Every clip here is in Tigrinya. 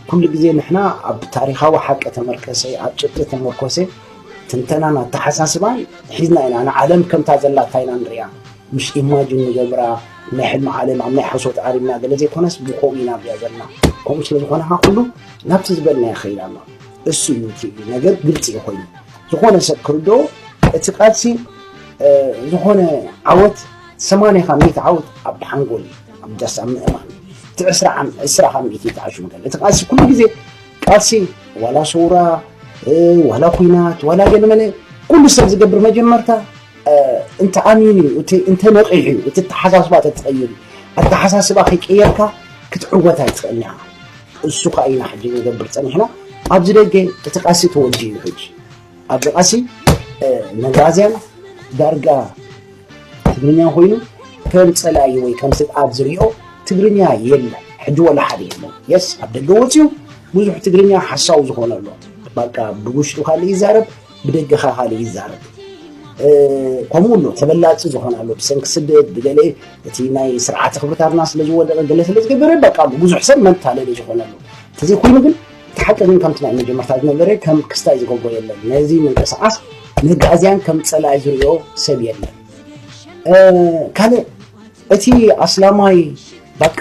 ኩሉ ግዜ ንሕና ኣብ ታሪኻዊ ሓቂ ተመርከሰ ኣብ ጭብጢ ተመርኮሰ ትንተናን ኣተሓሳስባን ሒዝና ኢና ንዓለም ከምታ ዘላታ ኢና ንሪኣ ምስ ኢማጅን ንገብራ ናይ ሕልሚ ዓለም ኣብ ናይ ሓሶት ዓሪብና ገለ ዘይኮነስ ብከምኡ ኢና ብያ ዘለና ከምኡ ስለ ዝኾነ ካ ኩሉ ናብቲ ዝበልና ይኸይድ ኣሎ እሱ እዩ እቲ ነገር ግልፂ እዩ ኮይኑ ዝኾነ ሰብ ክርድኦ እቲ ቃልሲ ዝኾነ ዓወት ሰማንያ ካብ ሚእቲ ዓወት ኣብ ሓንጎል እዩ ኣብ ዳስ ኣብ ምእማን እቲ ዕስራ ካብ ሚእቲ እቲ ኣሽምገል እቲ ቃልሲ ኩሉ ግዜ ቃልሲ ዋላ ሰውራ ዋላ ኩናት ዋላ ገለመለ ኩሉ ሰብ ዝገብር መጀመርታ እንተ ኣሚኑ እዩ እቲ እንተ ነቂሑ እዩ እቲ ኣተሓሳስባ ተትቐይር ኣተሓሳስባ ከይቀየርካ ክትዕወት ኣይትኽእልን ኢኻ እሱ ከዓ ኢና ሕጂ ንገብር ፀኒሕና ኣብዚ ደገ እቲ ቃልሲ ተወዲኡ እዩ ሕጂ ኣብዚ ቃሲ መጋዝያን ዳርጋ ትግርኛ ኮይኑ ከም ፀላኢ ወይ ከም ስግኣት ዝሪኦ ትግርኛ የለን ሕጂ ወላ ሓደ የለን የስ ኣብ ደገ ወፅዩ ብዙሕ ትግርኛ ሓሳዊ ዝኾነ ኣሎ ባቃ ብውሽጡ ካልእ ይዛረብ ብደገ ኸ ካልእ ይዛረብ ከምኡ ኣሎ ተበላፂ ዝኾነ ኣሎ ብሰንኪ ስደት ብገለ እቲ ናይ ስርዓተ ክብርታትና ስለ ዝወደቐ ገለ ስለ ዝገበረ በቃ ብዙሕ ሰብ መታለሊ ዝኾነ ኣሎ ተዘይኮይኑ ግን እቲ ሓቂ ግን ከምቲ ናይ መጀመርታ ዝነበረ ከም ክስታይ ዝገብሮ የለን። ነዚ ምንቅስቓስ መጋእዝያን ከም ጸላኢ ዝርእዮ ሰብ የለን። ካልእ እቲ ኣስላማይ በቃ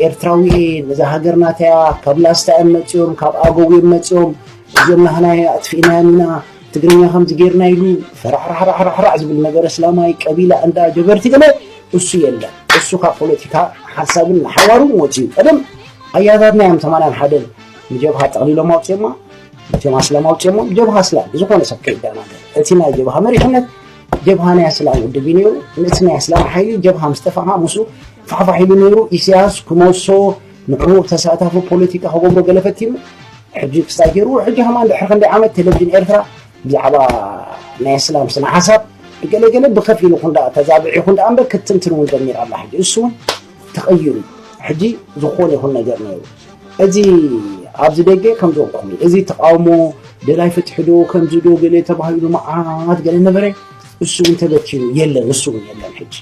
ኤርትራዊ ነዛ ሃገር ናተያ ካብ ላስታ እዮም መፅኦም ካብ ኣገው እዮም መፅኦም እዚኦም ናህና ኣጥፊእናዮም ኢና ትግርኛ ከምዚ ጌርና ኢሉ ፈራሕራሕራሕራሕ ዝብል ነገር እስላማይ ቀቢላ እንዳ ጀበርቲ ገለ እሱ የለን እሱ ካብ ፖለቲካ ሓሳብን ሓዋሩ ወፅዩ ቀደም ኣያታትና እዮም ሰማንያን ሓደን ንጀብሃ ጠቕሊሎም ኣውፅኦማ እቶም ኣስላም ኣውፅኦሞም ጀብሃ ኣስላም ዝኾነ ሰብ ከይደናገር እቲ ናይ ጀብሃ መሪሕነት ጀብሃ ናይ ኣስላም ውድብ እዩ ነይሩ እቲ ናይ ኣስላም ሓይሊ ጀብሃ ምስ ተፋኻ ምስ ፋሕፋሕ ኢሉ ነይሩ ኢሳያስ ክመሶ ንዕኡ ተሳታፊ ፖለቲካ ክገብሮ ገለ ፈቲኑ ሕጂ ክስታይ ገይሩ ሕጂ ከማ ድሕሪ ክንደይ ዓመት ቴሌቭዥን ኤርትራ ብዛዕባ ናይ ኣስላም ስነ ሓሳብ ገለገለ ብከፊሉ ኩን ተዛብዒ ኩን ዳኣ እምበር ክትንትን እውን ጀሚራ ኣላ ሕጂ እሱ እውን ተቐይሩ ሕጂ ዝኾነ ይኹን ነገር ነይሩ እዚ ኣብዚ ደገ ከም ዝበልኩም እዩ እዚ ተቃውሞ ደላይ ፍትሒ ዶ ከምዚ ዶ ገለ ተባሂሉ መዓት ገለ ነበረ እሱ እውን ተበቲኑ የለን እሱ እውን የለን ሕጂ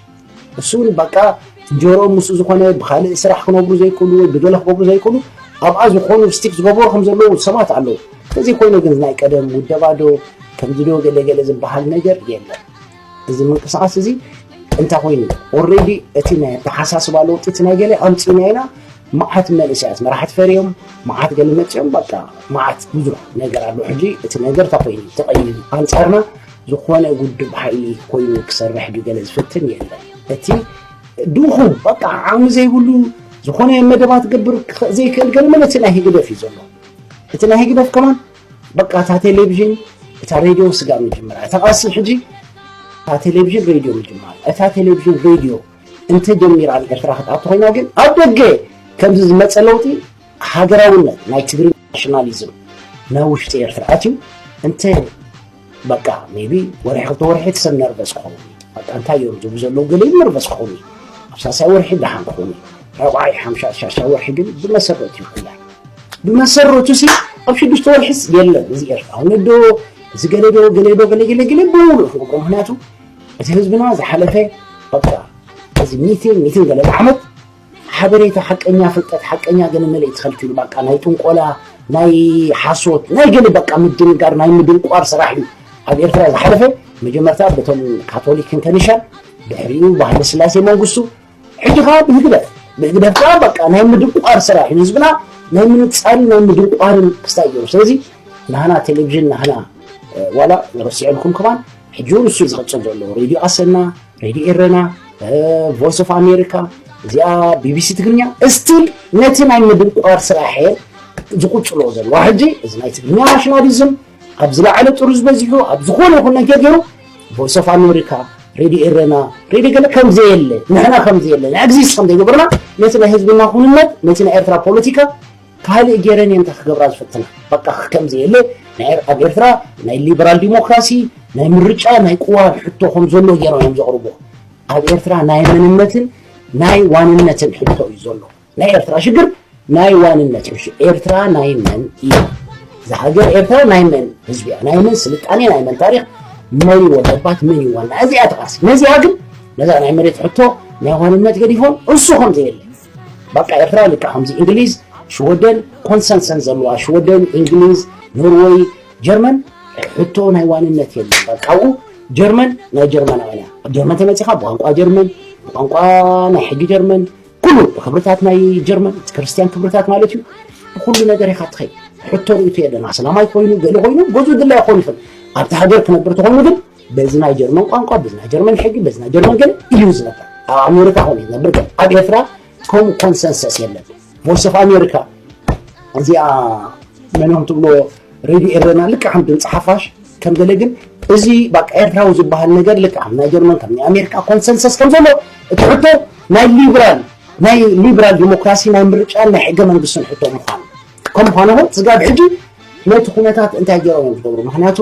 እሱ እውን በቃ ጆሮኦም ምስ ዝኾነ ብካልእ ስራሕ ክነብሩ ዘይክእሉ ወይ ብገለ ክገብሩ ዘይክእሉ ኣብኣ ዝኾኑ ስቲክ ዝገበሩ ከም ዘለዉ ሰባት ኣለዉ እዚ ኮይኑ ግን ናይ ቀደም ውደባ ዶ ከምዚ ዶ ገለገለ ዝበሃል ነገር የለን እዚ ምንቅስቃስ እዚ እንታይ ኮይኑ ኦልሬዲ እቲ ናይ ኣተሓሳስባ ለውጢ እቲ ናይ ገለ ኣምፂና ኢና መዓት መንእሰያት መራሕቲ ፈርዮም መዓት ገለ መፅኦም በቃ መዓት ብዙሕ ነገር ኣሎ ሕጂ እቲ ነገር እንታይ ኮይኑ ተቐይሩ ኣንፃርና ዝኾነ ውድብ ሓይሊ ኮይኑ ክሰርሕ ድዩ ገለ ዝፍትን የለን እቲ ድኹ በቃ ዓቕሚ ዘይብሉ ዝኾነ መደባት ክገብር ዘይክእል ገለ መን እቲ ናይ ህግደፍ እዩ ዘሎ እቲ ናይ ህግደፍ ከማን በቃ እታ ቴሌቭዥን እታ ሬድዮ ስጋብ ምጅምራ እታ ቃሲ ሕጂ እታ ቴሌቭዥን ሬድዮ ምጅማር እታ ቴሌቭዥን ሬድዮ እንተጀሚራ ንኤርትራ ክትኣቱ ኮይና ግን ኣብ ደገ ከምዚ ዝመፀ ለውጢ ሃገራውነት ናይ ትግሪ ናሽናሊዝም ናብ ውሽጢ ኤርትራ ኣትዩ እንተ በቃ ሜቢ ወርሒ ክልተ ወርሒ ሰብ ነርቨስ ክኸውን እዩ በቃ እንታይ እዮም ዝብሉ ዘለዉ ገለ ነርቨስ ክኸውን እዩ ኣብ ሳልሳይ ወርሒ ደሓን ክኸውን እዩ ራብዓይ ሓምሻይ ሻሻይ ወርሒ ግን ብመሰረቱ እዩ ኩላ ብመሰረቱ ሲ ኣብ ሽዱሽተ ወርሒስ የለን እዚ ኤርትራዊ ዶ እዚ ገለ ዶ ገለ ዶ ገለ ገለ ገለ ብምሉእ ክገብሮ ምክንያቱ እቲ ህዝብና ዝሓለፈ በቃ እዚ ሚትን ሚትን ገለ ዓመት ሓበሬታ ሓቀኛ ፍልጠት ሓቀኛ ገለ መለይ ተኸልኪሉ ባቃ ናይ ጥንቆላ ናይ ሓሶት ናይ ገለ በቃ ምድንጋር ናይ ምድንቋር ስራሕ እዩ ኣብ ኤርትራ ዝሓለፈ መጀመርታ በቶም ካቶሊክን ከኒሻን ድሕሪኡ ባህለ ስላሴ መንግስቱ ሕጂ ከዓ ብህግደፍ ብህግደፍ ከዓ በቃ ናይ ምድንቋር ስራሕ እዩ ህዝብና ናይ ምንፃርን ናይ ምድንቋርን ክስታይ ገይሩ ስለዚ ናህና ቴሌቭዥን ናህና ዋላ ረሲዐልኩም ከማን ሕጂ እውን እሱ ዝቕፅል ዘሎ ሬድዮ ኣሰና ሬድዮ ኤረና ቮይስ ኦፍ ኣሜሪካ እዚኣ ቢቢሲ ትግርኛ እስቲል ነቲ ናይ ምድንቋር ስራሕ ዝቁፅሎ ዘለዋ ሕጂ እዚ ናይ ትግርኛ ናሽናሊዝም ኣብ ዝለዓለ ጥሩዝ በዚሑ ኣብ ዝኾነ ይኹን ነገር ገይሩ ቮይስ ኦፍ ኣሜሪካ ሬድዮ ኤረና ሬድዮ ገለ ከምዘየለ ንሕና ከምዘየለ ንኤግዚስት ከምዘይገበርና ነቲ ናይ ህዝብና ኩንነት ነቲ ናይ ኤርትራ ፖለቲካ ካልእ ጌረን እየን ክገብራ ዝፍትና በቃ ክከም ዘየለ ናይ ኣብ ኤርትራ ናይ ሊበራል ዲሞክራሲ ናይ ምርጫ ናይ ቅዋም ሕቶ ከም ዘሎ ጌሮም እዮም ዘቕርቦ ኣብ ኤርትራ ናይ መንነትን ናይ ዋንነትን ሕቶ እዩ ዘሎ ናይ ኤርትራ ሽግር ናይ ዋንነት እዩ ኤርትራ ናይ መን እዩ እዛ ሃገር ኤርትራ ናይ መን ህዝቢ እያ ናይ መን ስልጣኔ ናይ መን ታሪክ መን ይወደባት መን ይዋና እዚኣ ተቃሲ ነዚኣ ግን ነዛ ናይ መሬት ሕቶ ናይ ዋንነት ገዲፎም እሱ ከም ዘየለ ባቃ ኤርትራ ልክዕ ከምዚ እንግሊዝ ሽወደን ኮንሰንሰን ዘለዋ ሽወደን እንግሊዝ ኖርወይ ጀርመን ሕቶ ናይ ዋንነት የለን ባቃኡ ጀርመን ናይ ጀርመናውያን እያ ኣብ ጀርመን ተመፂኻ ብቋንቋ ጀርመን ብቋንቋ ናይ ሕጊ ጀርመን ኩሉ ብክብርታት ናይ ጀርመን ክርስትያን ክብርታት ማለት እዩ ብኩሉ ነገር ኢኻ ትኸይ ሕቶ ርእቶ የለን ኣስላማይ ኮይኑ ገለ ኮይኑ ገዙ ድላይ ክኾን ይኽእል ኣብቲ ሃገር ክነብር ተኾይኑ ግን በዚ ናይ ጀርመን ቋንቋ በዚ ናይ ጀርመን ሕጊ በዚ ናይ ጀርመን ግን እዩ ዝነበር ኣብ ኣሜሪካ ኮን እዩ ዝነበር ግን ኣብ ኤርትራ ከም ኮንሰንሰስ የለን ቮይስ ኦፍ ኣሜሪካ እዚኣ መንኦም ትብሎ ሬድዮ ኤረና ልክዕ ከም ድምፂ ሓፋሽ ከም ገለ ግን እዚ በቃ ኤርትራዊ ዝበሃል ነገር ልክዕ ከም ናይ ጀርመን ከም ናይ ኣሜሪካ ኮንሰንሰስ ከም ዘሎ እቲ ሕቶ ናይ ሊብራል ናይ ሊብራል ዲሞክራሲ ናይ ምርጫን ናይ ሕገ መንግስትን ሕቶ ምዃኑ ከም ምዃኑ እውን ስጋብ ሕጂ ነቲ ኩነታት እንታይ ገይሮም እዮም ዝገብሩ ምክንያቱ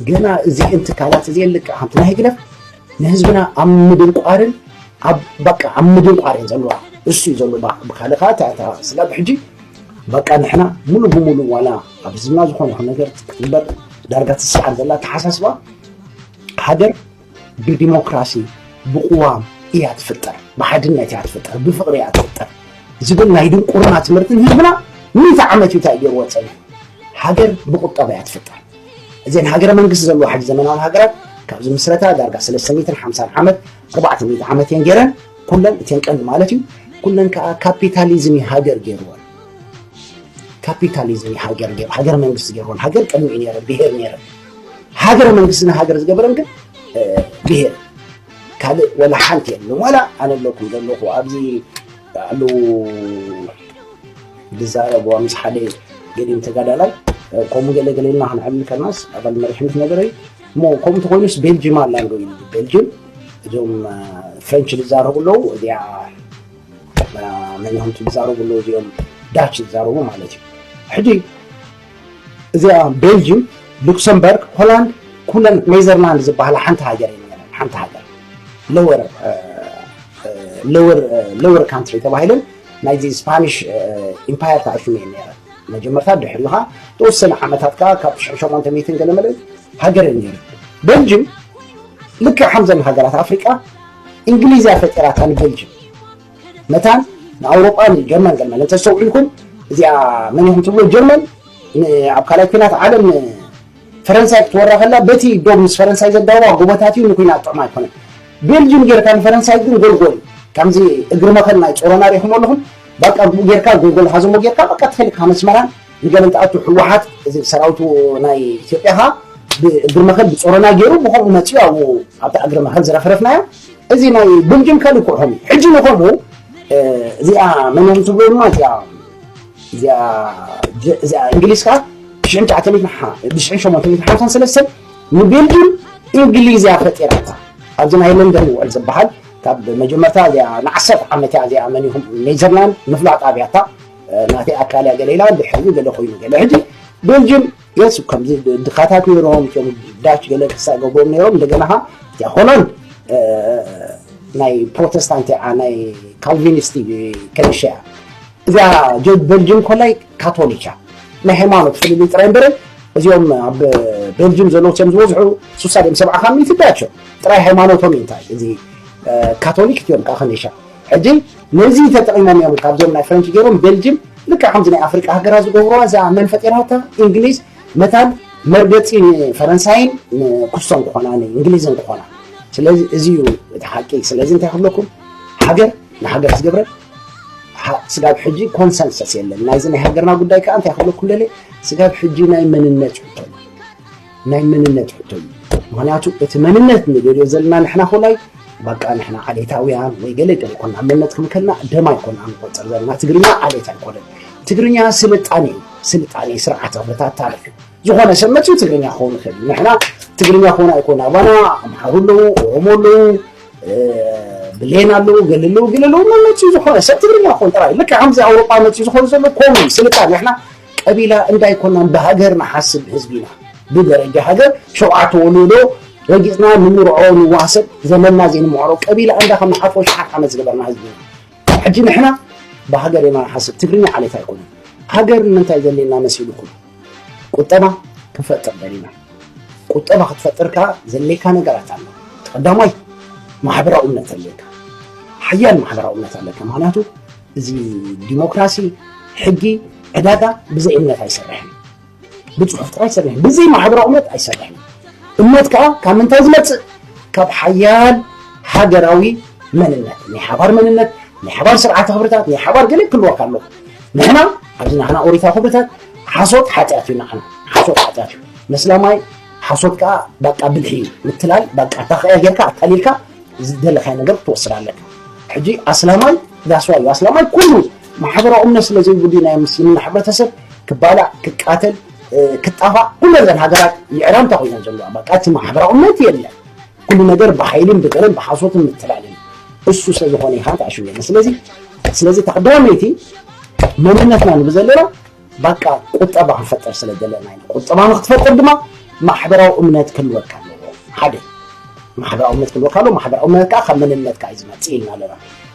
ገና እዚኤን ትካላት እዚኤን ልክዕ ከምቲ ናይ ህግደፍ ንህዝብና ኣብ ምድንቋርን ኣብ በቃ ኣብ ምድንቋር እየን ዘለዋ እሱ እዩ ዘሎ ብካልእ ከዓ እታ ስጋብ ሕጂ በቃ ንሕና ሙሉ ብሙሉ ዋላ ኣብ ህዝብና ዝኾነ ይኹን ነገር ክትግበር ዳርጋ ትስዓር ዘላ ተሓሳስባ ሃገር ብዲሞክራሲ ብቕዋም እያ ትፍጠር፣ ብሓድነት እያ ትፍጠር፣ ብፍቕሪ እያ ትፍጠር ዝብል ናይ ድንቁርና ትምህርቲ ህዝብና ምእቲ ዓመት እዩ እንታይ ገይርዎ ፀኒሑ። ሃገር ብቁጠባ እያ ትፍጠር። እዘን ሃገረ መንግስቲ ዘለዎ ሓዲ ዘመናዊ ሃገራት ካብዚ ምስረታ ዳርጋ ሰለስተ ሚእትን ሓምሳን ዓመት ኣርባዕተ ሚእቲ ዓመት እየን ገይረን ኩለን እተን ቀንዲ ማለት እዩ ኩለን ከዓ ካፒታሊዝም እዩ ሃገር ገይርወን ካፒታሊዝም እዩ ሃገር ገይሩ ሃገር መንግስቲ ገይርወን ሃገር ቅድሚ እዩ ነይረ ብሄር ነይረ ሃገረ መንግስትና ሃገር ዝገበረን ግን ብሄር ካልእ ወላ ሓንቲ የለን ዋላ ኣነ ኣለኩም ዘለኹ ኣብዚ ባዕሉ ዝዛረብዋ ምስ ሓደ ገዲም ተጋዳላይ ከምኡ ገለ ገለ ኢልና ክንዕብል ከናስ ኣባል መሪሕነት ነገር እዩ እሞ ከምኡ ተኮይኑስ ቤልጅም ኣላ ዶ ኢሉ ቤልጅም እዞም ፍሬንች ዝዛረቡ ኣለዉ እዚያ መን እዮም ዝዛረቡ ኣለዉ እዚኦም ዳች ዝዛረቡ ማለት እዩ ሕጂ እዚኣ ቤልጅም ሉክሰምበርግ ሆላንድ ኩለን ኔዘርላንድ ዝበሃላ ሓንቲ ሃገር እየን ነይረን ሓንቲ ሃገር ሎወር ሎወር ሎወር ካንትሪ ተባሂለን ናይዚ ስፓኒሽ ኢምፓየር ተኣሽሙ እየን ነይረን መጀመርታ ድሕሪ ኢኻ ተወሰነ ዓመታት ከዓ ካብ ትሽዑ ሸሞንተ ሚእትን ገለ መለ ሃገር እየን ነይረን ቤልጅም ልክዕ ከምዘን ሃገራት ኣፍሪቃ እንግሊዝ እያ ፈጢራታ ንቤልጅም መታን ንኣውሮጳን ጀርመን ዘመን እንተስተውዒልኩም እዚኣ መን ኢኹም ትብሎ ጀርመን ኣብ ካልኣይ ኩናት ዓለም ፈረንሳይ ክትወራ ከላ በቲ ዶብ ምስ ፈረንሳይ ዘዳዋ ጎቦታት እዩ ንኩናት ጥዑም ኣይኮነን ቤልጅም ጌርካ ንፈረንሳይ ግን ጎልጎል ከምዚ እግሪ መኸል ናይ ጮሮና ሪኹም ኣለኹም በቃ ብኡ ጌርካ ጎልጎል ሃዘሞ ጌርካ በቃ ትኸልካ መስመራን ንገለ እንትኣቱ ሕወሓት እዚ ሰራዊቱ ናይ ኢትዮጵያ ከዓ ብእግሪ መኸል ብፆሮና ገይሩ ብከምኡ መፅኡ ኣብኡ ኣብቲ እግሪ መኸል ዝረፍረፍናዮ እዚ ናይ ብልጅም ከልክዑኹም እዩ ሕጂ ንኸምኡ እዚኣ መነን ትብሎ ድማ እዚኣ እዚኣ እንግሊዝ ከዓ ብሽሕን ትሽዓተ ሚእትን ሓ ብሽሕን ሸሞንተ ሚእትን ሓምሳን ሰለስተን ንቤልጅም እንግሊዝ እያ ፈጢራታ ኣብዚ ናይ ለንደን ውዕል ዝበሃል ካብ መጀመርታ እዚኣ ንዓሰርተ ዓመት እያ እዚኣ መን ይኹም ኔዘርላንድ ምፍላጥ ኣብያታ ናተይ ኣካል እያ ገለ ኢላ ድሕሪ ገለ ኮይኑ ገለ ሕጂ ቤልጅም የሱ ከምዚ ድኻታት ነይሮም እቶም ዳች ገለ ክሳእ ገብሮም ነይሮም እንደገና ኸ እቲኣ ኮሎን ናይ ፕሮቴስታንት እያ ናይ ካልቪኒስቲ ከነሻ እያ እዚያ ጆርጅ ቤልጅም ኮላይ ካቶሊክ እያ ናይ ሃይማኖት ፍልልይ ጥራይ እምበረ እዚኦም ኣብ ቤልጅም ዘለዉ እዮም ዝበዝሑ ሱሳ ድም ሰብዓ ካብ ሚእቲ ዳቸው ጥራይ ሃይማኖቶም እዩ እንታይ እዚ ካቶሊክ እቲኦም ከዓ ከነሻ ሕጂ ነዚ ተጠቂሞም እዮም ካብዞም ናይ ፍረንች ገይሮም ቤልጅም ልክዕ ከምዚ ናይ ኣፍሪቃ ሃገራት ዝገብርዋ እዛ መን ፈጢራታ እንግሊዝ መታን መርገጺ ንፈረንሳይን ንኩስቶን ክኾና ንእንግሊዝን ክኾና ስለዚ እዚ እዩ እቲ ሓቂ ስለዚ እንታይ ክብለኩም ሃገር ንሃገር ዝገብረ ስጋብ ሕጂ ኮንሰንሰስ የለን ናይዚ ናይ ሃገርና ጉዳይ ከዓ እንታይ ክብለኩም ደለ ስጋብ ሕጂ ናይ መንነት እዩ ናይ መንነት ሕቶ እዩ ምክንያቱ እቲ መንነት ንደልዮ ዘለና ንሕና ኮላይ በቃ ንሕና ዓሌታውያን ወይ ገለ ገለ ኮና መንነት ክም ከልና ደማ ይኮና ንቆፅር ዘለና ትግርኛ ዓሌት ኣይኮነን ትግርኛ ስልጣኔ እዩ ስልጣኔ ስርዓተ ኩነታት ታሪክ እዩ ዝኾነ ሰብ መፅኡ ትግርኛ ክኸውን ይኽእል እዩ ንሕና ትግርኛ ክኾን ኣይኮን ኣባና ኣምሓሩ ኣለዉ ኦሮሞ ኣለዉ ብሌን ኣለዉ ገለ ኣለዉ ገለ ኣለዉ መመፅኡ ዝኾነ ሰብ ትግርኛ ክኾን ጥራይ ልክዕ ከምዚ ኣውሮጳ መፅኡ ዝኾኑ ዘሎ ኮሙን ስልጣን ንሕና ቀቢላ እንዳ ኣይኮናን ብሃገር ንሓስብ ህዝቢ ኢና ብደረጃ ሃገር ሸውዓተ ወሎዶ ረጊጽና ንምርዖ ንዋሰብ ዘመንና ዘይንምዕሮ ቀቢላ እንዳ ከም ንሓልፎ ሽሓት ዓመት ዝነበርና ህዝቢ ኢና ሕጂ ንሕና ብሃገር ኢና ንሓስብ ትግርኛ ዓሌት ኣይኮነን ሃገር ንምንታይ ዘሌና መሲልኩም ቁጠባ ክንፈጥር ደሊና ቁጠባ ክትፈጥር ከዓ ዘሌካ ነገራት ኣሎ ቀዳማይ ማሕበራዊ እምነት ኣለካ ሓያል ማሕበራዊ እምነት ኣለካ ምክንያቱ እዚ ዲሞክራሲ ሕጊ ዕዳጋ ብዘይ እምነት ኣይሰርሕን ብፅሑፍ ጥራይ ይሰርሕ ብዘይ ማሕበራዊ እምነት ኣይሰርሕን እምነት ከዓ ካብ ምንታይ ዝመፅእ ካብ ሓያል ሃገራዊ መንነት ናይ ሓባር መንነት ናይ ሓባር ስርዓተ ክብርታት ናይ ሓባር ገለ ክህልወካ ኣለዎ ንሕና ኣብዚ ንሕና ኦሪታ ክብርታት ሓሶት ሓጢኣት እዩ ንዓና ሓሶት ሓጢኣት እዩ መስላማይ ሓሶት ከዓ በቃ ብልሒ እዩ ምትላል በቃ እታ ከያ ጌርካ ኣታሊልካ ዝደለኻዮ ነገር ክትወስድ ኣለካ ሕጂ ኣስላማይ ዳስዋ እዩ ኣስላማይ ኩሉ ማሕበራዊ እምነት ስለ ዘይብሉ ናይ ምስልምና ሕብረተሰብ ክባላዕ ክቃተል ክጣፋእ ኩሉ ዘን ሃገራት ይዕራም እንታይ ኮይነን ዘለዋ በቃ እቲ ማሕበራዊ እምነት የለን ኩሉ ነገር ብሓይልን ብገለን ብሓሶትን ምትላልን እሱ ስለ ዝኾነ ኢኻ ተኣሽው የለን ስለዚ ስለዚ ተቅዳመይቲ መንነትና ንብዘለና ባቃ ቁጠባ ክንፈጥር ስለ ዘለና ኢና። ቁጠባ ንክትፈጥር ድማ ማሕበራዊ እምነት ክህልወካ ኣለዎ። ሓደ ማሕበራዊ እምነት ክህልወካ ኣለዎ። ማሕበራዊ እምነት ከዓ ካብ መንነትካ እዩ ዝመፅእ ኢልና ኣለና።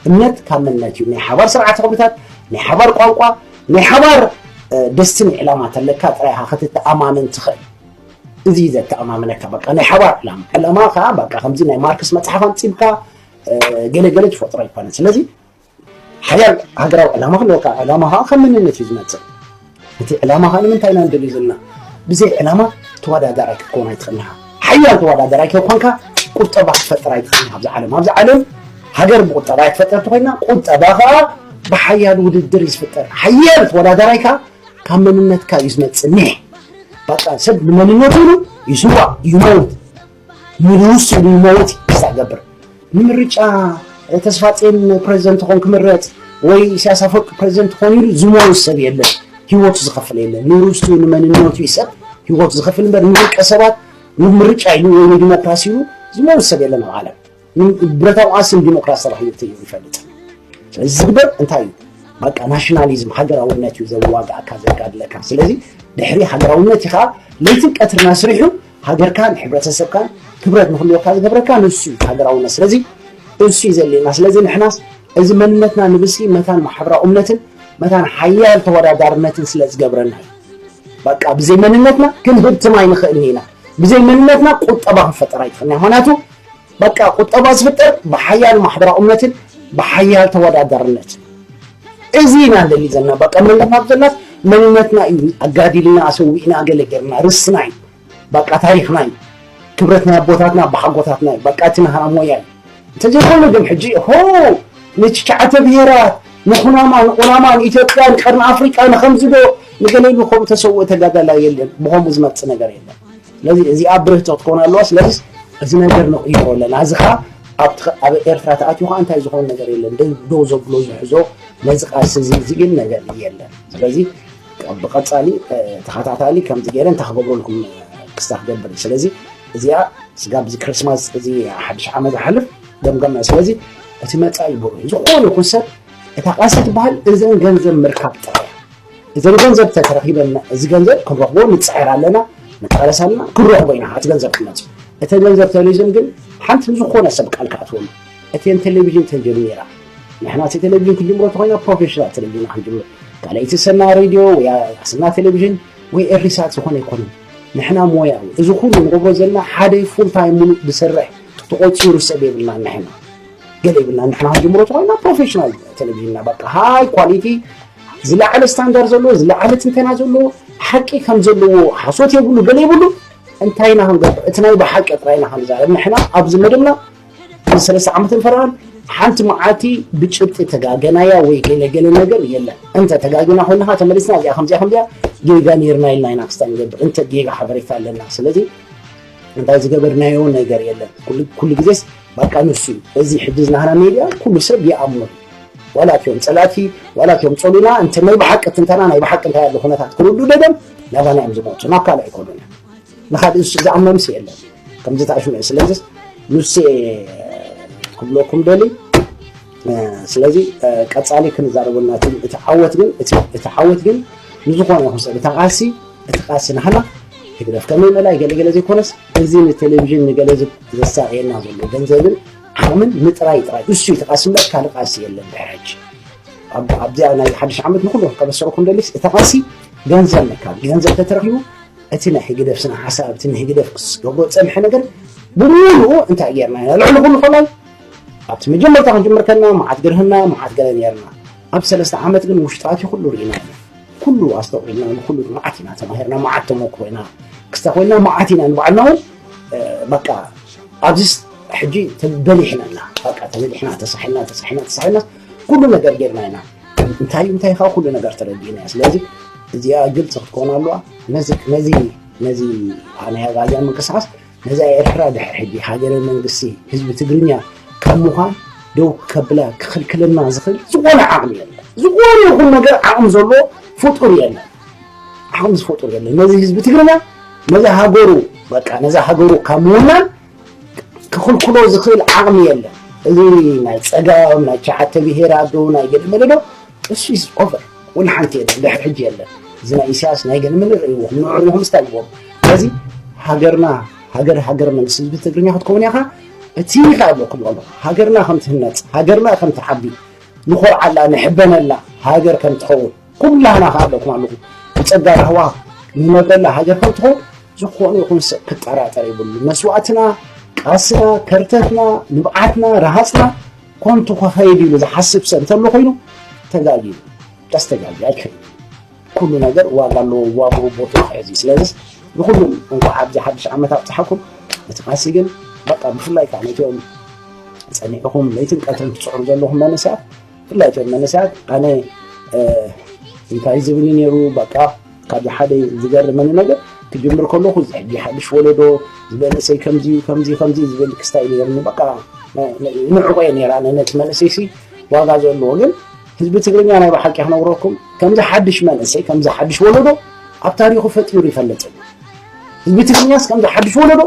እምነት ካብ መንነት እዩ። ናይ ሓባር ስርዓተ ክብርታት፣ ናይ ሓባር ቋንቋ፣ ናይ ሓባር ደስትን ዕላማ ተለካ ጥራይ ኢኻ ክትተኣማመን ትኽእል። እዚ እዩ ዘተኣማምነካ በቃ ናይ ሓባር ዕላማ ዕላማ ከዓ በቃ ከምዚ ናይ ማርክስ መፅሓፍ ኣንፂብካ ገለገለ ትፈጥሮ ኣይኮነን። ስለዚ ሓያል ሃገራዊ ዕላማ ክህልወካ ዕላማ ከዓ ከም መንነት እዩ ዝመፅእ እቲ ዕላማ ከዓ ንምንታይ ኢና ንደልዩ ዘለና ብዘይ ዕላማ ተወዳዳራይ ክትከውን ኣይትኽእልኻ ሓያል ተወዳዳራይ ከይኮንካ ቁጠባ ክትፈጥር ኣይትኽእልኻ ኣብዚ ዓለም ኣብዚ ዓለም ሃገር ብቁጠባ እያ ትፈጠር ተኮይና ቁጠባ ከዓ ብሓያል ውድድር እዩ ዝፍጠር ሓያል ተወዳዳራይ ከዓ ካብ መንነትካ እዩ ዝመፅእ ኒሕ በቃ ሰብ ንመንነቱ ይስዋእ ይመውት ንውሱን መወፂ ክሳዕ ገብር ንምርጫ ተስፋጼን ፕሬዚደንት ኾን ክምረፅ ወይ ኢሳያስ ኣፈወርቂ ፕሬዚደንት ኾን ኢሉ ዝሞት ሰብ የለን ህይወቱ ዝኸፍል የለን ንርስቱ ንመንነቱ ይሰብ ህይወቱ ዝኸፍል እምበር ንውልቀ ሰባት ንምርጫ ኢሉ ወይ ንዲሞክራሲ ኢሉ ዝሞት ሰብ የለን ኣብ ዓለም ብረታዊ ቃልሲ ንዲሞክራሲ ተባሂሉ ተይሩ ይፈልጥ ስለዚ ዝግበር እንታይ እዩ በቃ ናሽናሊዝም ሃገራውነት እዩ ዘዋግኣካ ዘጋድለካ ስለዚ ድሕሪ ሃገራውነት ኢኻ ለይትን ቀትርን ኣስሪሑ ሃገርካን ሕብረተሰብካን ክብረት ንክልወካ ዝገብረካ ንሱ እዩ ሃገራውነት ስለዚ እሱ እዩ ዘድልየና ስለዚ ንሕናስ እዚ መንነትና ንብሲ መታን ማሕበራዊ እምነትን መታን ሓያል ተወዳዳርነትን ስለ ዝገብረና እዩ በቃ ብዘይ መንነትና ክንህብትም ኣይንኽእልን ኢና ብዘይ መንነትና ቁጠባ ክንፈጠር ኣይትኽእልና ምክንያቱ በቃ ቁጠባ ዝፍጠር ብሓያል ማሕበራዊ እምነትን ብሓያል ተወዳዳርነትን እዚ ኢና ንደሊ ዘለና በቃ መንነትና ብዘላስ መንነትና እዩ ኣጋዲልና ኣሰዊእና ገለ ጌርና ርስና እዩ በቃ ታሪክና እዩ ክብረት ናይ ኣቦታትና ኣባሓጎታትና እዩ በቃ እቲ ናህና ሞያ እዩ እንተዘይኮይኑ ግን ሕጂ ሆ ንትሽዓተ ብሄራት ንኩናማ ንቁናማ ንኢትዮጵያ ንቀርኒ ኣፍሪቃ ንከምዚ ዶ ንገለ ኢሉ ከምኡ ተሰውኦ ተጋዳላይ የለን ብከምኡ ዝመፅእ ነገር የለን ስለዚ እዚኣ ብርህቶ ክትከውን ኣለዋ ስለዚ እዚ ነገር ንቕይሮ ኣለና እዚ ከዓ ኣብ ኤርትራ ተኣትዩ ከዓ እንታይ ዝኾነ ነገር የለን ደው ዘብሎ ዝሕዞ ነዚ ቃልሲ እዚ ዝብል ነገር የለን ስለዚ ብቐፃሊ ተኸታታሊ ከምዚ ገይረ እንታይ ክገብረልኩም ክስታ ክገብር ስለዚ እዚኣ ስጋብ እዚ ክርስማስ እዚ ሓድሽ ዓመት ዝሓልፍ ገምገምና ስለዚ እቲ መፃኢ ብሩህ ዝኾነ ይኹን ሰብ እታ ቃልሲ ትበሃል እዘን ገንዘብ ምርካብ ጥራይ እዘን ገንዘብ ተተረኪበና እዚ ገንዘብ ክንረክቦ ንፅዕር ኣለና ንቃለስ ኣለና ክንረክቦ ኢና እቲ ገንዘብ ክመፅ እቲ ገንዘብ ተሪዝም ግን ሓንቲ ዝኾነ ሰብ ቃል ክኣትወሉ እተን ቴሌቪዥን ተጀሚራ ንሕና እቲ ቴሌቪዥን ክንጅምሮ ተኮይና ፕሮፌሽናል ቴሌቪዥን ክንጅምር ካልኣይቲ ሰና ሬድዮ ወይ ሰና ቴሌቪዥን ወይ ኤሪሳት ዝኾነ ኣይኮነን ንሕና ሞያዊ እዚ ኩሉ ንገብሮ ዘለና ሓደ ፉል ታይም ሙሉእ ዝሰርሕ ተቆፂሩ ሰብ የብልና ንሕና ገለ የብልና ንሕና ክንጅምሮ ተኮይና ፕሮፌሽናል ቴሌቪዥንና በቃ ሃይ ኳሊቲ ዝለዓለ ስታንዳር ዘለዎ ዝለዓለ ትንተና ዘለዎ ሓቂ ከም ዘለዎ ሓሶት የብሉ ገለ የብሉ እንታይ ኢና ክንገብር እቲ ናይ ብሓቂ ጥራይ ኢና ክንዛረብ ንሕና ኣብዚ መደብና ንሰለስተ ዓመት ንፈራን ሓንቲ መዓልቲ ብጭብጢ ተጋገናያ ወይ ገለገለ ነገር የለን እንተ ተጋገና ኮይንካ ተመሊስና እዚኣ ከምዚኣ ከምዚኣ ጌጋ ነርና ኢልና ኢና ክስታ ንገብር እንተ ጌጋ ሓበሬታ ኣለና ስለዚ እንታይ ዝገበርናዮ ነገር የለን ኩሉ ግዜስ ባቃ ንሱ እዩ እዚ ሕጂ ዝናህና ሜድያ ኩሉ ሰብ ይኣምኖ እዩ ዋላ እትዮም ጸላእቲ ዋላ እትዮም ጸሉና እንተ ናይ ብሓቂ ትንተና ናይ ብሓቂ እንታይ ኣሎ ኩነታት ክርዱ ደደም ናባና እዮም ዝመጹ ናብ ካልእ ኣይኮኑን ንካልእ ንሱ ዝኣምኖምስ የለን ከምዚ ተኣሽሙ ስለዚ ንሴ ክብለኩም ደሊ ስለዚ ቀጻሊ ክንዛረበልና እቲ ዓወት ግን እቲ ዓወት ግን ንዝኾነ ይኹን ሰብ እታ ቃሲ እቲ ቃሲ ናህና ህግደፍ ከመይ መላይ ገለገለ ዘይኮነስ እዚ ንቴሌቭዥን ንገለ ዘሳቅየና ዘሎ ገንዘብን ዓቅምን ምጥራይ ጥራይ እሱ እዩ ተቃሲ እምበር ካልእ ቃሲ የለን ድሕሪ ሕጂ ኣብዚኣ ናይ ሓድሽ ዓመት ንኩሉ ከበሰረኩም ደሊስ እቲ ቃሲ ገንዘብ ምካብ ገንዘብ ተተረኪቡ እቲ ናይ ህግደፍ ስነ ሓሳብ እቲ ንህግደፍ ክስገብሮ ፀንሐ ነገር ብምሉኡ እንታይ ጌርና ኢና ልዕሊ ኩሉ ከላይ ኣብቲ መጀመርታ ክንጅምር ከለና መዓት ግርህና መዓት ገለ ነርና ኣብ ሰለስተ ዓመት ግን ውሽጣት ኩሉ ርኢና ኢና ኩሉ ኣስተውዒልና ንኩሉ መዓት ኢና ተማሂርና መዓት ተመክሮ ኢና ክስታ ኮይና መዓት ኢና ንባዕልና እውን በቃ ኣብዚ ሕጂ ተበሊሕና ኢና በቃ ተበሊሕና ተሳሒና ተሳሒና ተሳሒና ኩሉ ነገር ጌርና ኢና እንታይ እንታይ ካብ ኩሉ ነገር ተረዲእና እያ ስለዚ እዚኣ ግልፂ ክትኮን ኣለዋ ነዚ ነዚ ነዚ ናይ ኣግኣዝያን ምንቅስቃስ ነዛ ኤርትራ ድሕር ሕጂ ሃገረ መንግስቲ ህዝቢ ትግርኛ ካብ ምዃን ደው ከብላ ክኽልክለና ዝኽእል ዝኾነ ዓቕሚ የለን ዝኾነ ይኹን ነገር ዓቕሚ ዘለዎ ፍጡር የለን ኣሁን ዝፈጡ ዘለ ነዚ ህዝቢ ትግርኛ ነዚ ሃገሩ በቃ ነዚ ሃገሩ ካብ ምውናን ክኽልክሎ ዝኽእል ዓቕሚ የለን እዚ ናይ ፀጋም ናይ ሸዓተ ብሄር ኣዶ ናይ ገለመለ ዶ እሱ ኢዝ ኦቨር ወላ ሓንቲ የለን ድሕሪ ሕጂ የለን እዚ ናይ ኢሳያስ ናይ ገለመለ ርእይዎ ንዕሪኹም ስታይ ይዎም ስለዚ ሃገርና ሃገር ሃገር መንግስቲ ህዝቢ ትግርኛ ክትከውን ኢኻ እቲ ኢኻ ኣለኩም ኣሎ ሃገርና ከም ትህነፅ ሃገርና ከም ትዓቢ ንኾርዓላ ንሕበነላ ሃገር ከም ትኸውን ኩላህና ከኣ ኣለኹም ኣለኹም ብጸጋ የሕዋ ንነብረላ ሃገር ከም ትኾን ዝኾነ ይኹን ሰብ ክጠራጠር ይብሉ መስዋእትና ቃስና ከርተትና ንብዓትና ረሃፅና ኮንቱ ከኸይድ ኢሉ ዝሓስብ ሰብ እንተሎ ኮይኑ ተጋጊ ቀስ ተጋጊ ኣይክል ኩሉ ነገር ዋጋ ኣለዎ ዋግኡ ቦቱ ክሕዝ እዩ ስለዚ ንኩሉም እንኳዕ ኣብዚ ሓድሽ ዓመት ኣብፅሓኩም እቲ ቃሲ ግን በቃ ብፍላይ ከዓ ነቶም ፀኒዕኹም ለይትን ቀትርን ትፅዕሩ ዘለኹም መንእሰያት ብፍላይ እቶም መንእሰያት ኣነ እንታይ ዝብል እዩ ነይሩ በቃ ካብ ሓደ ዝገርመኒ ነገር ክጅምር ከለኹ እዚ ሕጂ ሓድሽ ወለዶ ዝበለሰይ ከምዚ ከምዚ ከምዚ ዝብል ክስታይ ነይርኒ በቃ ንዕቆ እየ ነራ ነቲ መንእሰይ ሲ ዋጋ ዘለዎ ግን ህዝቢ ትግርኛ ናይ ብሓቂ ክነግረኩም ከምዚ ሓድሽ መንእሰይ ከምዚ ሓድሽ ወለዶ ኣብ ታሪኹ ፈጢሩ ይፈልጥ ህዝቢ ትግርኛስ ከምዚ ሓድሽ ወለዶ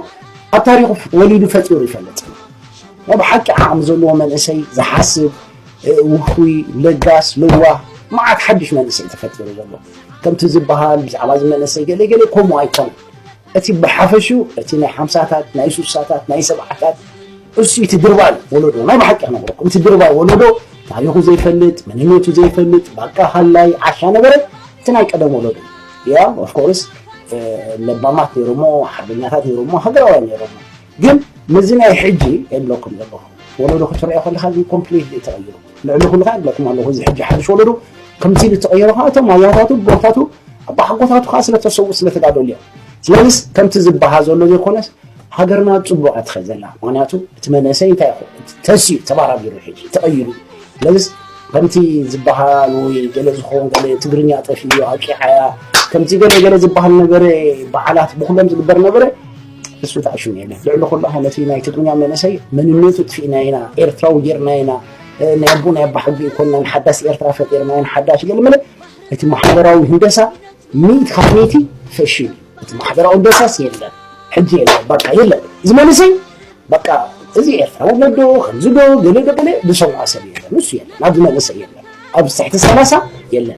ኣብ ታሪኹ ወሊዱ ፈጢሩ ይፈልጥ ናይ ብሓቂ ዓቕሚ ዘለዎ መንእሰይ ዝሓስብ ውፉይ ለጋስ ለዋህ መዓት ሓድሽ መንእሰይ ተፈጢሩ ዘሎ ከምቲ ዝበሃል ብዛዕባ እዚ መንእሰይ ገለገለ ከምኡ ኣይኮነ እቲ ብሓፈሹ እቲ ናይ ሓምሳታት ናይ ሱሳታት ናይ ሰብዓታት እሱ እቲ ድርባይ ወለዶ ናይ ብሓቂ ክነግረኩም እቲ ድርባይ ወለዶ ታሪኹ ዘይፈልጥ መንነቱ ዘይፈልጥ ባቃ ሃላይ ዓሻ ነበረ እቲ ናይ ቀደም ወለዶ ያ ኦፍኮርስ ለባማት ነይሮሞ ሓርበኛታት ነይሮሞ ሃገራውያን ነይሮሞ ግን ምስዚ ናይ ሕጂ የብለኩም ዘለኹም ወለዶ ክትሪኦ ከለኻ ግን ኮምፕሊት እዩ ተቐይሩ ልዕሊ ኩሉ ከዓ ይብለኩም ኣለኹ እዚ ሕጂ ሓድሽ ወለዶ ከምዚ ኢሉ ተቐይሩ ከዓ እቶም ኣያታቱ ቦታቱ ኣቦሓጎታቱ ከዓ ስለተሰውኡ ስለተጋደሉ እዮም ስለዚስ ከምቲ ዝበሃ ዘሎ ዘይኮነስ ሃገርና ፅቡቅ እያ ትኸ ዘላ ምክንያቱ እቲ መንእሰይ እንታይ ተስዩ ተባራቢሩ ሕጂ ተቐይሩ ስለዚስ ከምቲ ዝበሃል ወይ ገለ ዝኸውን ገለ ትግርኛ ጠፊኡ ኣቂዓያ ከምቲ ገለ ገለ ዝበሃል ነበረ በዓላት ብኩሎም ዝግበር ነበረ ንሱ ተዓሽሙ ኢና ልዕሊ ኩሉ ከ ነቲ ናይ ትግርኛ መንእሰይ መንነቱ ጥፊእና ኢና ኤርትራዊ ጌርና ኢና ናይ ኣቦ ናይ ኣባ ሕጊ ይኮናን ሓዳስ ኤርትራ ፈጢርና ኢና ሓዳሽ ገልምለ እቲ ማሕበራዊ ህንደሳ ሚእቲ ካብ ሚእቲ ፈሽሉ እቲ ማሕበራዊ ህንደሳስ የለን ሕጂ የለን በቃ የለን እዚ መንእሰይ በቃ እዚ ኤርትራዊ ነዶ ከምዚ ዶ ገለ ዶ ገለ ዝሰምዖ ሰብ የለን ንሱ የለን ኣብዚ መንእሰይ የለን ኣብዚ ትሕቲ ሰላሳ የለን